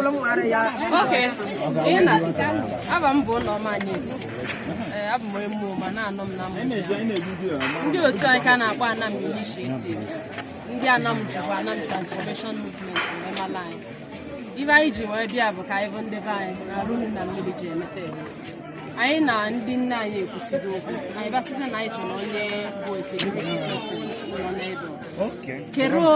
Okay. Ina, ava m bụ Ụlọma Anyịsi. Ee, abụ m emu ma na-anọ m na mmụta. Ndị otu anyị ka na-akpọ Anam Initiative. Ndị Anam jikwa Anam Transformation Movement wee mala anyị. Ive anyị ji wee bịa bụ ka anyị vụ ndị be anyị na arụ nri na mmiri ji emeta eme. Anyị na ndị nne anyị ekwusigo okwu. Anyị bịa sịzị na anyị chọrọ onye bụ security person nọ n'ebe. Keruo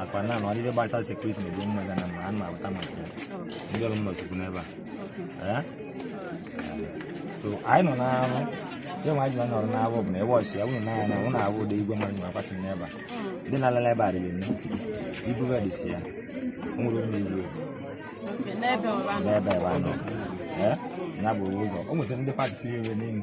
akwa na na ọdịbe gbasara security na ebe mma gana ma a na-avụta maka ya ndị ọrụ m nọsikwu n'ebe a Eh? so anyị nọ na-arụ ya nwa ji na nọrọ na-arụ bụ na ebe ọchị ya wụrụ n'anya na ụnụ awụ ụdị igwe mmadụ na-akwasị n'ebe a ndị na-alala ebe a dịrị nne ibu ive dị si ya o nwere ụmụ igwe n'ebe ọba n'ebe ebe a nọ Eh? ya bụ ụzọ o nwesịrị ndị pati si ya ebe n'elu